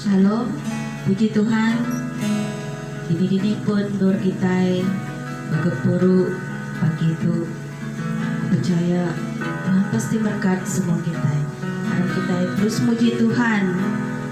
Shalom, puji Tuhan, kini dini pun endur kitai begempuru pagi tu. Aku pechaya Tuhan pasti berkat semua kitai. Mari kitai terus muji Tuhan.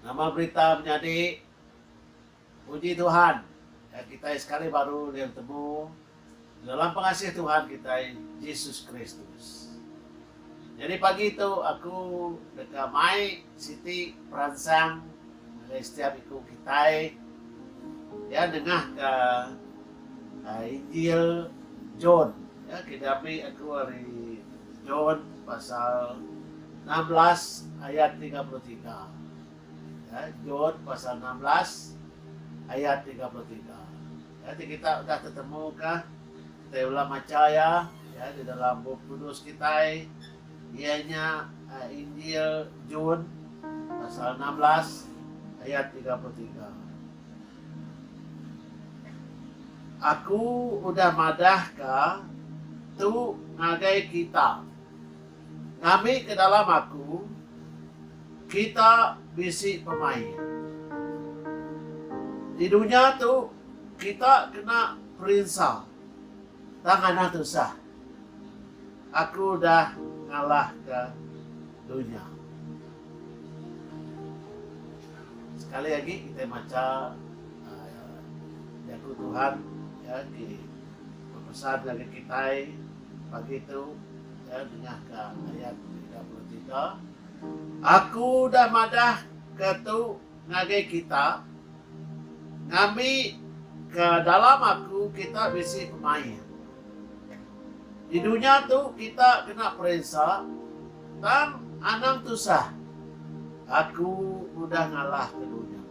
Nama berita menyadi? Puji Tuhan, ka kitai sekali baru ulih betemu di dalam pengasih Tuhan kitai, Jesus Kristus. Nyadi pagi tu aku deka mai siti peransang ngagai setiap iku kitai iya nengahka Injil John. Ke diambi aku ari John pasal enam belas ayat tiga puluh tiga. John pasal enam belas ayat tiga puluh tiga. Enti kita udah tetemuka, kitai bela macha iya di dalam Bup Kudus kitai iya nya Injil John pasal enam belas ayat tiga puluh tiga. Aku udah madah ka tu ngagai kita. Ngambi ke dalam aku, kita bisi pemain. Di dunya tu kita kena perinsa tang anah tusah. Aku dah ngalahka dunya. Sekali agi kitai macha Jaku Tuhan ya ti bepesan ngagai kitai pagi tu ya dengah ka ayat tiga puluh tiga Aku dah madah ka tu ngagai kita ngambi ka dalam aku kita bisi pemain. Di dunya tu kita kena peresa tang anang tusah. Aku udah ngalah ke dunya.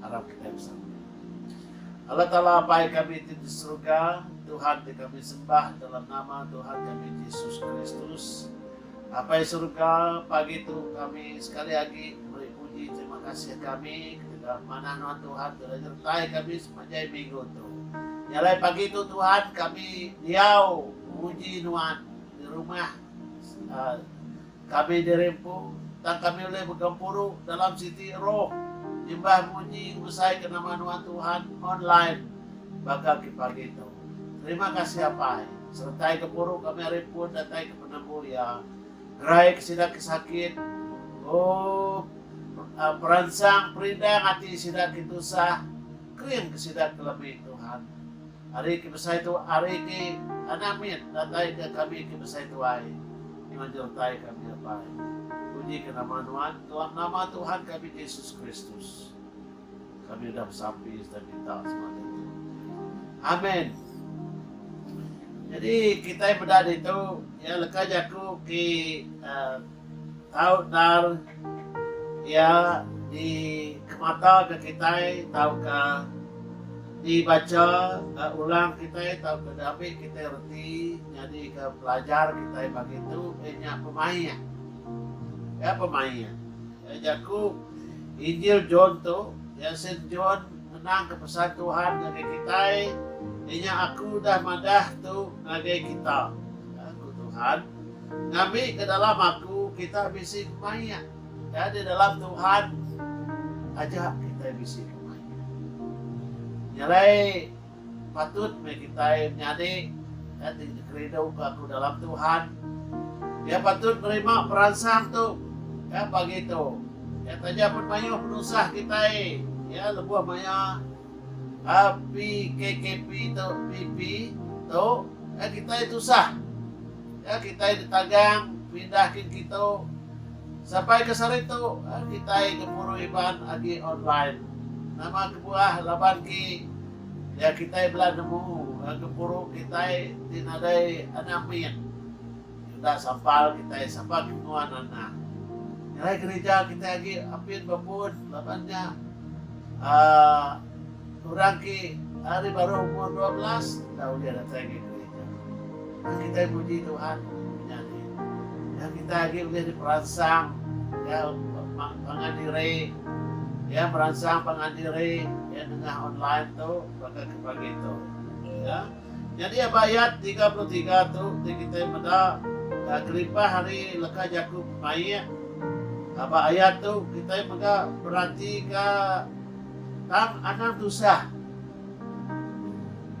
Arap kitai besama. Allah Taala Apai kami ti di serega, Tuhan ti kami sembah dalam nama Tuhan kami Jesus Kristus. Apai serega, pagi tu kami sekali agi meri puji terima kasih kami ketegal manah nuan Tuhan ti udah nyertai kami. Panjai minggu tu. Jalai pagi tu Tuhan kami diau nguji Nuan di rumah kami diri empu tang kami ulih begempuru dalam siti roh nyembah muji ngebesaika nama Nuan Tuhan online ba kaki pagi tu. Terima kasih Apai. Seretai gempuru kami ari pun datai ke penemu iya. Rai ke sida ke sakit. Ooh, peransang perindang ati sida ke tusah, kering ke sida ke lebih Tuhan. Ari ke besai tu ari ke anak mit datai ke kami ke besai tuai nyuan nyertai kami apai. Puji ke nama nuan dalam nama Tuhan kami Jesus Kristus. Kami udah besampi sereta minta semaya tu. Amen. Jadi kitai meda ditu ya leka jaku ki uh, tau dar ya di kemata ke kitai tauka dibaca uh, ulang kitai tau ke diambil kitai reti jadi ke pelajar kitai pagi tu inya pemain. Ya pemain. Jaku Injil John tu, iya sin John ngenangka pesan Tuhan ngagai kitai, Inya Aku udah madah tu ngagai kita, ku Tuhan, Ngambika dalam Aku kita bisi kemaik. Nyadi dalam Tuhan aja kitai bisi kemaik. Nyelai Patut meh kitai menyadi enti dikerinduka ku dalam Tuhan. Iya patut nerima peransang tu. Ka pagi tu, Iya taja pen mayuh penusah kitai iya lebuh maya PKKP tu, PP, tu, ka kitai tusah. Ya kitai ditagang pindah kin kitu. Sampai ke sehari tu eh, kitai gempuru Iban agi online. Nama kebuah laban ki ya kitai bela nemu eh, gempuru kitai ti nadai anak min. Enda sampal kitai sapa ke nguan anak. Ngerai gerija kitai agi apin bepun laban nya uh, Orang ke ari baruh umur dua belas enda ulih datai ke gerija. Nya kitai muji Tuhan menyadi. Nya kitai agi ulih diperansang iya pangan diri iya meransang pangan diri iya nengah online tu baka ke pagi tu. Ya. Nyadi aba ayat tiga puluh tiga tu ti kitai meda kelimpah ari leka jaku pemaik aba ayat tu kitai mega beratika Tang anang tusah.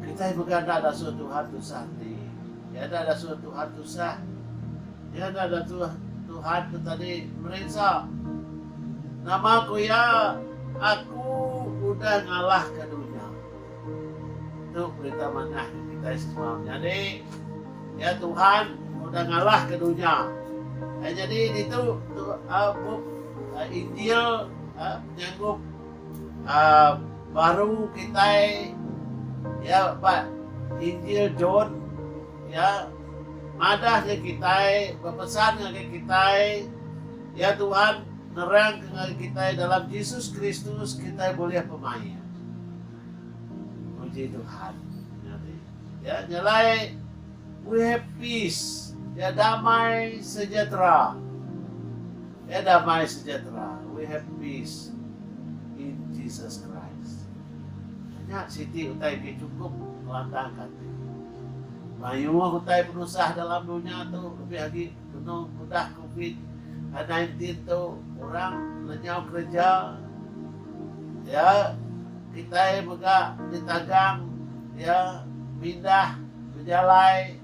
Kitai mega enda dasuh Tuhan tusah enti. Iya enda dasuh Tuhan tusah. Iya enda datuh Tuhan ke tadi merinsa. Nama ku iya, Aku udah ngalahka dunya. Tu berita manah ke kitai semua. Menyadi, iya Tuhan udah ngalahka dunya. Nyadi ditu tu uh, bup uh, Injil uh, Nyangkup baru kitai iya ba Injil John iya madah ngagai kitai bepesan ngagai kitai iya Tuhan nerangka ngagai kitai dalam Jesus Kristus kitai bulih pemaik. Puji Tuhan. Iya nyelai we have peace iya damai sejahtera. Iya damai sejahtera, we have peace in Jesus Christ. Nya siti utai ke chukup ngelantangka ati. Mayuh utai penusah dalam dunya tu lebih agi benung ke udah covid nineteen tu orang lenyau kereja iya kitai mega ditagang iya mindah bejalai.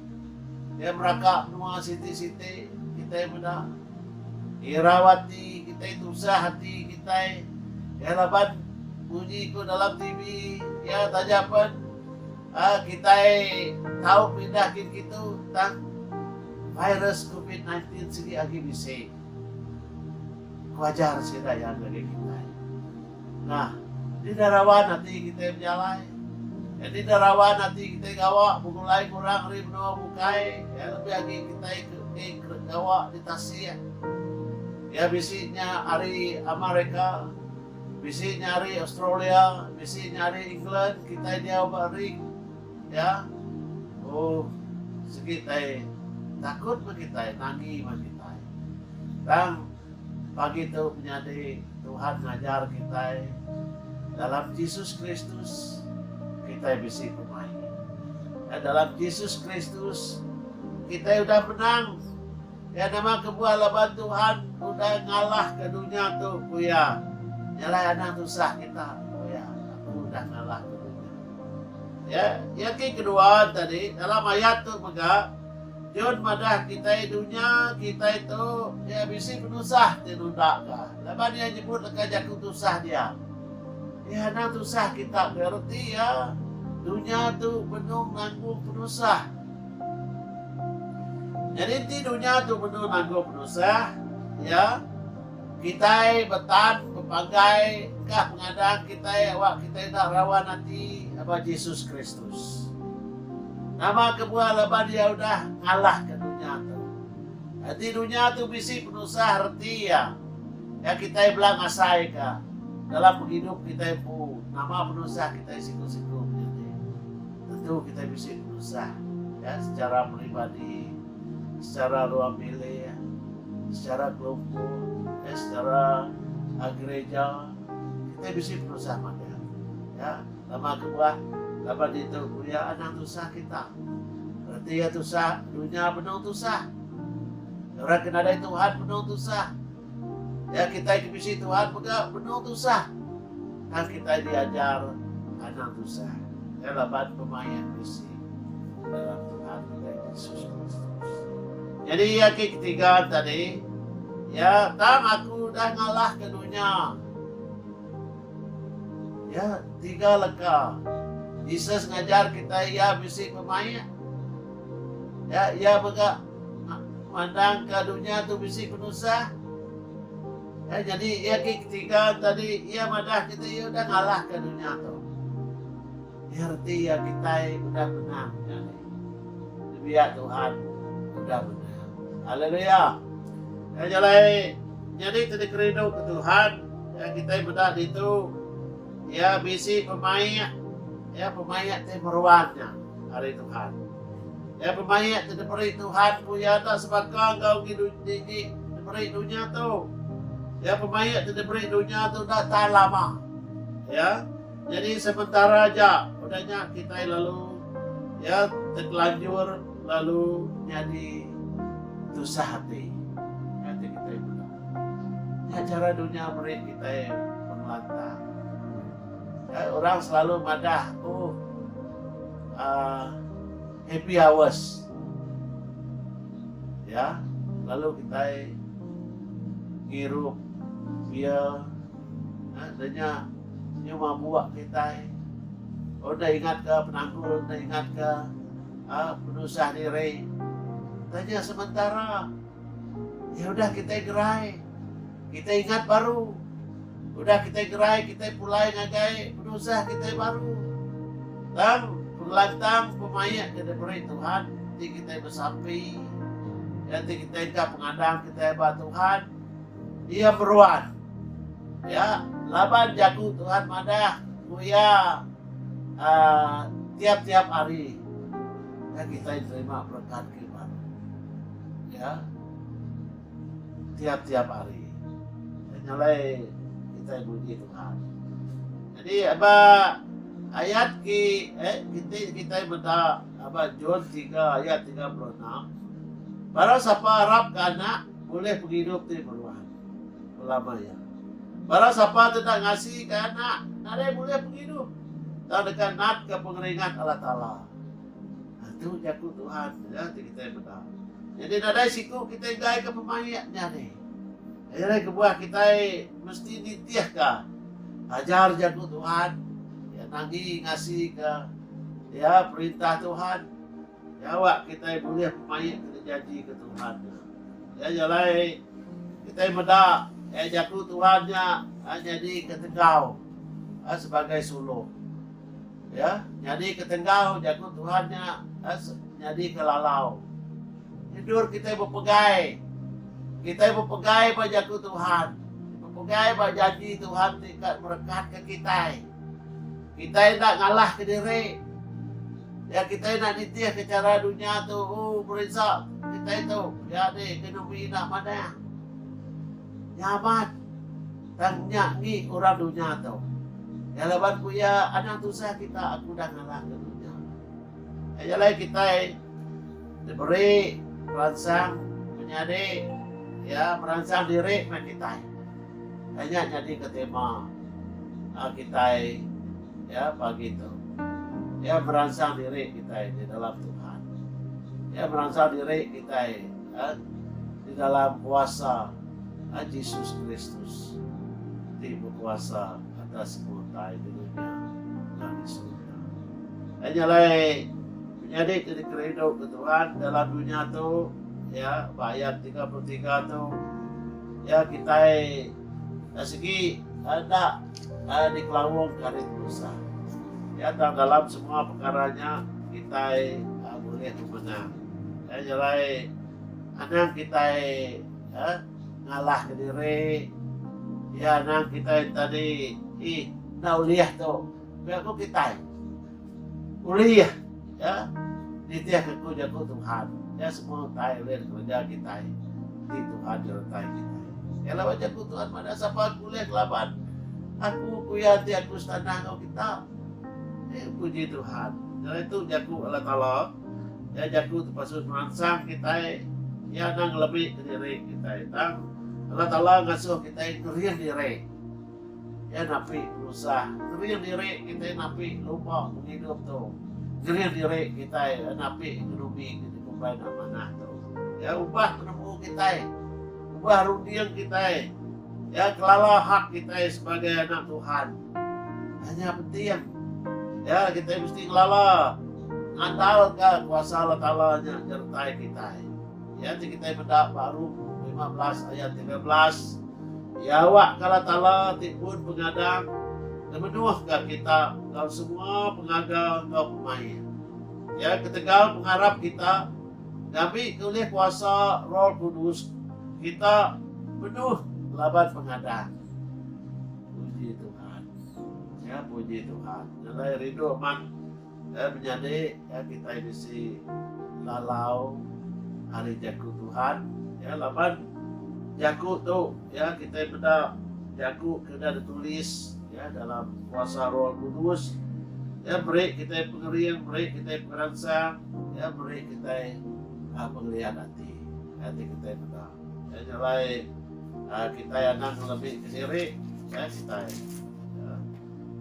Kitai meraka menua siti-siti kitai meda irau ati kitai tusah ati kitai iya laban munyi ku dalam TV iya taja pen um kitai tau pindah gin kitu tang virus covid sembilan belas sigi agi bisi ku ajar sida iya ngagai kitai. Nah, enti deh rawan ati kitai bejalai, enti deh rawan ati kitai gawa begulai enggau orang ari menua bukai iya lebih agi kitai ke enti ke gawa di tasik. Iya bisi nya ari America, bisi nya ari Australia, bisi nya ari England, kitai diau ba ring iya. Ooh, sigi tai takut meh kitai, nangi meh kitai. Tang. Pagi tu menyadi Tuhan ngajar kitai dalam Jesus Kristus kitai bisi pemain. Dan dalam Jesus Kristus kitai udah menang. Ya nama kebuah laban Tuhan udah ngalah ke dunia tu ku ya. Nyalai anak tusah kita ku ya. Aku udah ngalah ke dunia. Ya, ya ki kedua tadi dalam ayat tu mega John madah kitai dunya kitai tu mih bisi penusah ti nunda ka laban iya nyebut leka jaku tusah dia. Mih anang tusah kita be reti iya dunya tu benung nanggung penusah. Nyadi enti dunya tu benung nanggung penusah iya. Kitai betan bepanggai engkah pengadang kitai awak kitai enda rawan ati ba Jesus Kristus. Nama kebuah laban Iya udah ngalahka dunya tu. Enti dunya tu bisi penusah reti iya, nya kitai bela ngasaika dalam pengidup kitai empu nama penusah kitai siku-siku menyadi. Tentu kitai bisi penusah, ya, secara peribadi. Secara ruang bilik, secara kelumpuk, dan secara gereja, kitai bisi penusah madah. Ya, lama kebuah, laban ditu ku iya anang tusah kita. Reti iya tusah, dunya benung tusah. Orang ke nadai Tuhan benung tusah. Ya kitai ke bisi Tuhan mega benung tusah tang kitai diajar anang tusah ya laban pemaik bisi dalam Tuhan kitai Yesus Kristus. Jadi ya ke ketiga tadi ya tang aku dah ngalah ke dunya. Ya tiga leka Jesus ngajar kitai ya bisi pemaik. Ya ia mega Mandang ka dunya tu bisi penusah. Iya nyadi iya ke ketiga tadi iya madah kita iya udah ngalah ka dunya tu. Iya reti iya kitai udah menang nyadi. Dibiak Tuhan udah menang. Haleluya. Iya jalai nyadi tadi kerindu ke Tuhan. Iya kitai meda ditu iya bisi pemaik. Iya pemaik ti meruan nya ari Tuhan. Iya pemaik ti diberi Tuhan ku iya enda sebaka enggau digi diberi dunya tu. Iya pemaik ti diberi dunya tu enda tahan lama. Ya. Nyadi sementara aja, udah nya kitai lalu ya terkelanjur lalu nyadi tusah ati. Nya ti kitai mega. Nya chara dunya meri kitai pengelantang. Orang selalu madah aku happy hours ya lalu kitai ngirup beer da nya nyuma buak kitai udah ingat ka penanggul udah ingat ka penusah diri da nya sementara. Ya udah kitai gerai. Kitai ingat baru. Udah kitai gerai kitai pulai ngagai penusah kitai baru. Tang pengelantang pemaik ke diberi Tuhan ti kitai besampi ya ti kitai engka pengadang kitai ba Tuhan dia meruan. Ya laban jaku Tuhan madah ku iya uh, tiap-tiap hari. Ya kitai nerima berkat ke baru. Iya, tiap-tiap hari. Nya nyalai kitai muji Tuhan. Jadi aba ayat ki eh kiti kitai meda aba John 3 ayat 36. Barang sapa arap ke anak boleh pengidup ti meruan. Ulama ya. Barang sapa tidak ngasi ke anak, nadai boleh pengidup. Tak dekat nat ke pengeringat Allah Ta'ala. Tu jaku Tuhan ya ti kitai meda. Nyadi nadai siku kitai enggaika pemaik nya deh. Aye alai kebuah kitai mesti nitihka ajar jaku Tuhan ya nangi ngasika ya perintah Tuhan nyawa kitai bulih pemaik ke dijanjika Tuhan nya. Ya nya alai kitai meda ya jaku Tuhan nya nyadika tegau sebagai suluk. Ya, nyadi ke tenggau jaku Tuhan nya eh, nyadi ke lalau. Endur kita bepegai. Kita bepegai ba jaku Tuhan. Bepegai ba janji Tuhan ti kat merekat ke kita. Kita indah ngalah ke diri. Ya kita indah nitih ke cara dunia tu. Oh, berinsa kita itu. Ya ni, ekonomi indah mana. Nyaman. Tang nya ngi orang dunya tu. Nya laban ku iya, Anang tusah kita aku dah ngalahka dunya. Aja alai kitai diberi peransang menyadi iya meransang diri meh kitai. Tang nya nyadika tema a kitai iya pagi tu. Iya meransang diri kitai di dalam Tuhan. Iya meransang diri kitai di dalam kuasa. a Jesus Kristus ti bekuasa atas semua utai di dunya enggau di surga. Ai nya alai menyadi ke dikerindu ke Tuhan dalam dunya tu ya ba ayat 33 tu ya kitai eh, segi ada eh, eh, dikelawung ke hari tusah. Ya tang dalam semua perkara nya kitai eh, boleh memenang. Ya jalai anang kitai Iya ngalahka diri. Iya anang kitai enti di ih enda ulih tu. Pia ku kitai ulih iya nitihka aku jaku Tuhan. Iya semua utai ulih dikereja kitai enti Tuhan nyertai kitai. Iya laban jaku Tuhan madah sapa aku ulih ngelaban aku ku iya enti aku setanah enggau kita. Puji Tuhan. Jaku Alai Taala. Iya jaku tu pasu meransang kitai. Iya enda ngelebih ke diri kitai tang Allah Taala ngasuh kitai ngerin diri. Iya napi penusah ngerin diri kitai napi lumba pengidup tu. Ngerin diri kitai napi ngenubi ke dikumbai enda manah tu. Iya ubah penemu kitai. Ubah runding kitai ya kelala hak kitai sebagai anak Tuhan. Nah nya penting. Ya kitai mesti kelala ngandalka kuasa Allah Taala nya nyertai kitai. Ya ti kitai meda ba Rom 15 ayat 13 Ya awak ke Allah Taala ti pun pengadang ngemenuhka kita enggau semua pengaga enggau pemain. Ya ketegal pengarap kita Ngabi ke ulih kuasa Roh Kudus kita penuh laban pengadang. Puji Tuhan. Ya, puji Tuhan. Nyelai rindu amat eh, menyadi ya, kita bisi lalau hari jaku Tuhan. Ya, laban jaku tu ya kita benda jaku kena ditulis Ya, dalam kuasa Roh Kudus, Iya meri kitai pengering, meri kitai pengeransang, Iya meri kitai ah, pengelian ati, ati kitai meda. Ya, nya alai ah, kitai anang ngelemika diri, ya, kitai. Ya.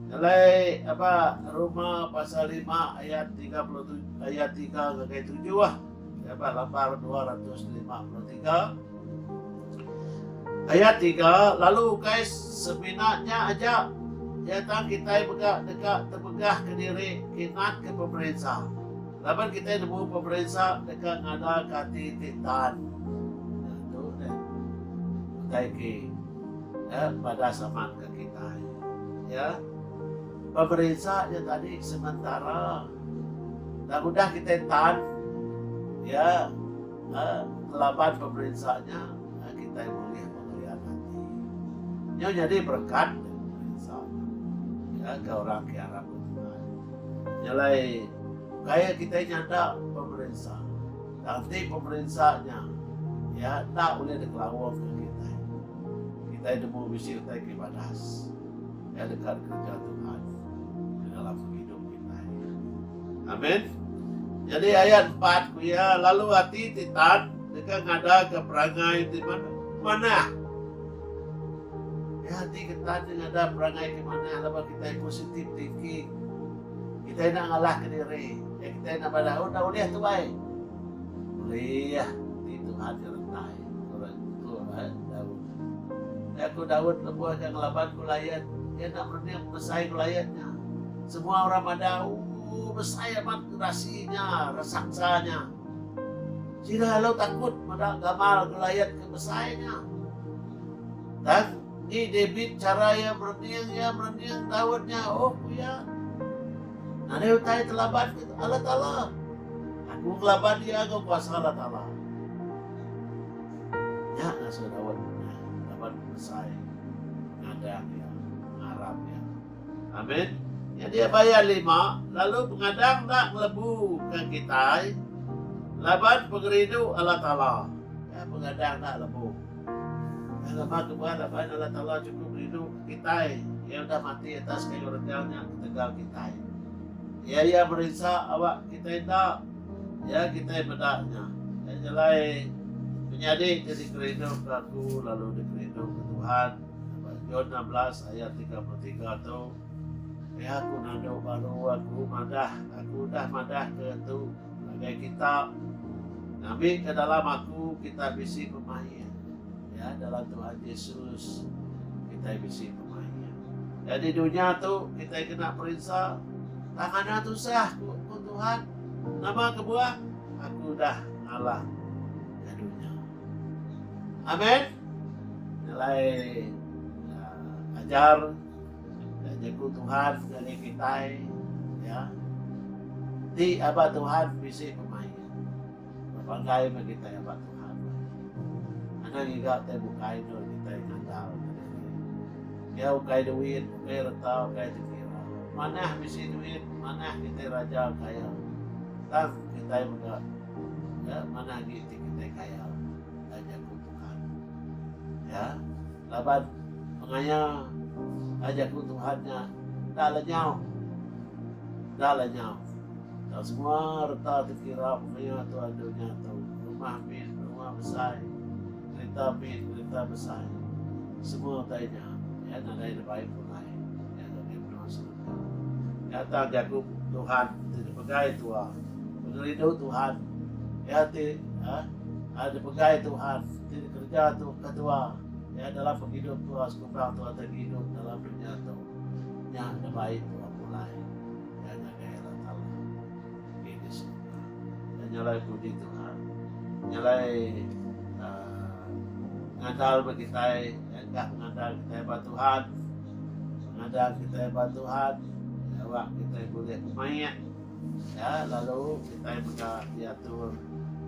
Nya alai aba Roma pasal lima ayat tiga puluh tujuh, ayat tiga ngagai tujuh. Jabat Lapar dua ratus lima puluh tiga Ayat tiga Lalu ukai semina nya aja nyata kitai mega deka tebegah kediri kinan ke pemerinsa laban kitai nemu pemerinsa deka ngada ke ati ti tan. Nah, tu ne. Utai ke ya, padas amat ke kitai. Ya. Pemerinsa nya tadi sementara. Tang udah kitai tan Iya kelaban pemerinsa nya, kitai bulih pengelyan ati. Nyu nyadi berekat ngagai pemerinsa nya, ngagai orang ke arap deh tenang. Nya alai, kai kitai nyanda pemerinsa, tang ti pemerinsa nya iya enda ulih dikelaungka kitai. Kitai nemu bisi utai ke badas. Iya deka dikereja Tuhan ti dalam pengidup kitai. Amin. Nyadi ayat empat ku iya, Lalu ati ti tan deka ngadaka perangai ti manah. Iya ati ke tan ti ngadak perangai ke manah laban kitai positif thinking. Kitai enda ngalahka diri. Ya kitai enda bala, oh enda ulih tuai. Ulih ti Tuhan ke rentai. Turun. Turun. Jaku Daud lebuh iya ngelaban ku layan iya enda merening besai ku layan nya. Semua orang madah, Ooh, besai amat gerasi nya, raksasa nya. Sida lalu takut meda gamal ku layan ke besai nya. Tang, ni David chara iya merening? Iya merening Daud nya, Oh, ku iya, nadai utai telaban ke Allah Taala. Aku ngelaban iya enggau kuasa Allah Taala. Nya ngasuh Daud nunyai laban besai ngagang iya, ngarap iya. Amin. Nyadi aba iya lima, lalu pengadang enda ngelebu ka kitai laban pengerindu Allah Taala. Iya pengadang enda lebu. Iya laban nuba raban Allah Taala chukup rindu ka kitai. Iya udah mati atas kayu renggang nya ketegal kitai. Iya iya merinsa awak kitai enda. Iya kitai meda nya. Nya nyelai penyadi ti dikerinduka aku lalu dikerinduka Tuhan. Ba John enam belas ayat tiga puluh tiga tu, Meh aku nanduk baru aku madah, aku udah madah ke tu ngagai kita. Ngambi ke dalam aku kita bisi pemain. Ya, dalam Tuhan Yesus kita bisi pemain. Nyadi dunya tu kitai kena perinsa, tang anang tusah, ku Tuhan. Nama kebuah? Aku dah ngalah ke dunya. Amen. Nyelai uh, ajar dan jaku Tuhan ngagai kitai ya. Ti aba Tuhan bisi pemain. Banggai meh kitai aba Tuhan meh. Anang iga utai bukai endur kitai ngagal ke diri. Pia ukai duit, ukai reta, ukai dikira. Manah bisi duit, manah kitai raja kaya. Tang kitai mega manah agi ti kitai kaya, taja ku Tuhan. Ya. Laban pengaya enda jaku Tuhan nya enda lenyau. Enda lenyau. Tang semua reta ti kira pengaya tuan dunya tu, rumah mit, rumah besai, kerita mit, kerita besai, semua utai nya, iya nadai nebai pulai iya nyadi menua serega. Nya tang jaku Tuhan ti dipegai tua, Pengerindu Tuhan, iya ti, ha, ha dipegai Tuhan. Ti dikereja tu ke tua iya adalah pengidup tua sekukang tua ti ngidup dalam dunya tu nya ngebai tua pulai iya ngagai Allah Taala enggi di surga. Iya nyalai puji Tuhan nyalai aaa ngandal ba kitai iya enda ngandal kitai ba Tuhan. Ngandal kitai ba Tuhan iya awak kitai bulih pemaik. Nya lalu kitai mega diatur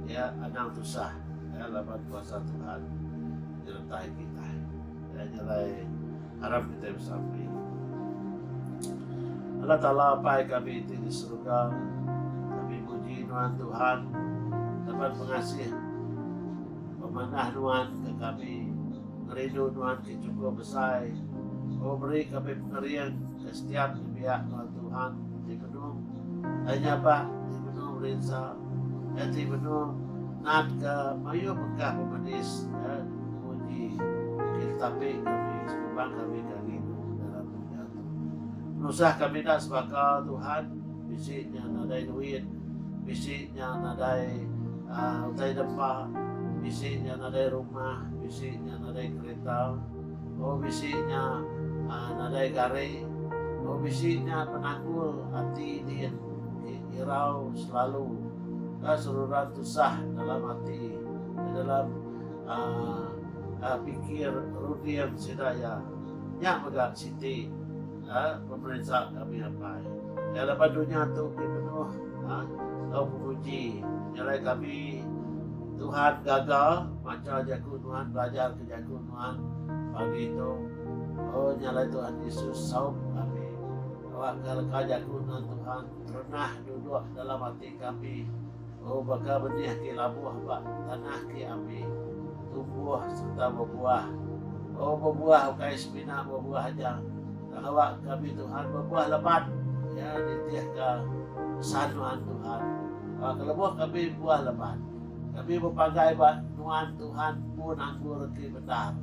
iya anang tusah laban kuasa Tuhan nyertai kitai. Iya nya alai harap kitai besampi. Allah Taala Apai kami ti di Seruga, kami muji nuan Tuhan laban pengasih pemanah nuan ke kami. Ngerindu nuan ti chukup besai, oh meri kami pengering. Setiap dibiak enggau Tuhan enti benung ai nyabak enti benung rinsa enti benung natka mayuh mega pemedis ke dipuji engki tetapi kami sekumang kami ka ngilu ke dalam dunya tu nusah kami enda sebaka Tuhan bisi nya nadai duit bisi nya nadai utai dempa bisi nya nadai rumah bisi nya nadai kereta. Oh bisi nya nadai gari. Oh bisi nya penakul ati din irau selalu ka seruran tusah dalam ati eh dalam aaa pikir runding sida iya. Nya mega siti aaa pemerinsa kami apai. Iya laban dunya tu ti penuh aaa tau penguji nyelai kami Tuhan gaga macha jaku nuan belajar ke jaku. Tuhan, pagi tu, o nya alai Tuhan Yesus saup kami, awak ka leka jaku nuan Tuhan pernah duduk dalam ati kami, o baka benih ke labuh ba tanah ke api, tumbuh serta bebuah, o bebuah ukai semina bebuah aja, tang awak kami Tuhan bebuah lebat, iya nitih ka pesan nuan Tuhan, awak ka lebuh kami buah lebat. Kami bepagai ba nuan Tuhan pun anggur ti bendar.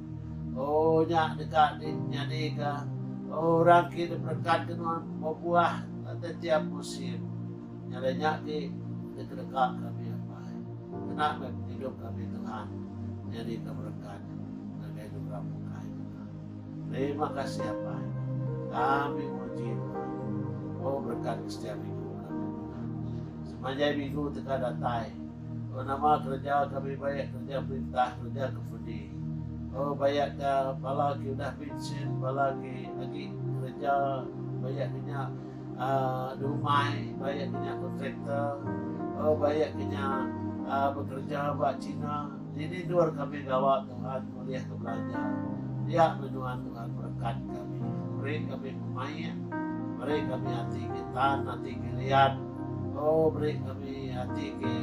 O nya deka di nyadika orang ki diberekat ke nuan bebuah tetiap musim. Nyadi nya ti dikedeka kami apai. Kena meh pengidup kami Tuhan nyadika berekat ngagai di orang bukai nya. Terima kasih apai. Kami muji Tuhan. O berekat ke setiap minggu kami Tuhan. Semanjai minggu deka datai. Oh nama kereja kami bayak kereja perintah kereja ke fudi oh bayak ka bala ki udah pinsin bala ki agi kereja bayak ke nya uh, dumai bayak ke nya kontraktor oh bayak ke nya uh, bekereja ba China Ti tidur kami gawa Tuhan ulih ke belajar dia menua Tuhan berekat kami beri kami pemaik beri kami ati ke tan ati ke liat oh beri kami ati ke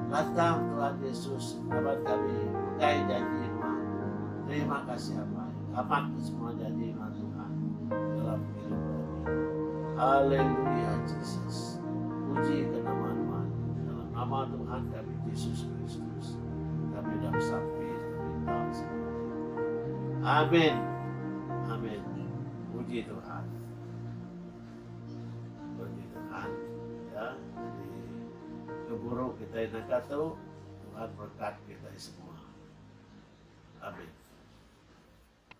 lantang Tuhan Yesus laban kami megai janji nuan terima kasih apai amat ke semua janji nuan Tuhan dalam hidup kami haleluya Jesus puji ke nama nuan dalam nama Tuhan kami Jesus Kristus Amen Amen puji Tuhan puji Tuhan ya ke guru kitai naka tu Tuhan berkat kitai semua Amen.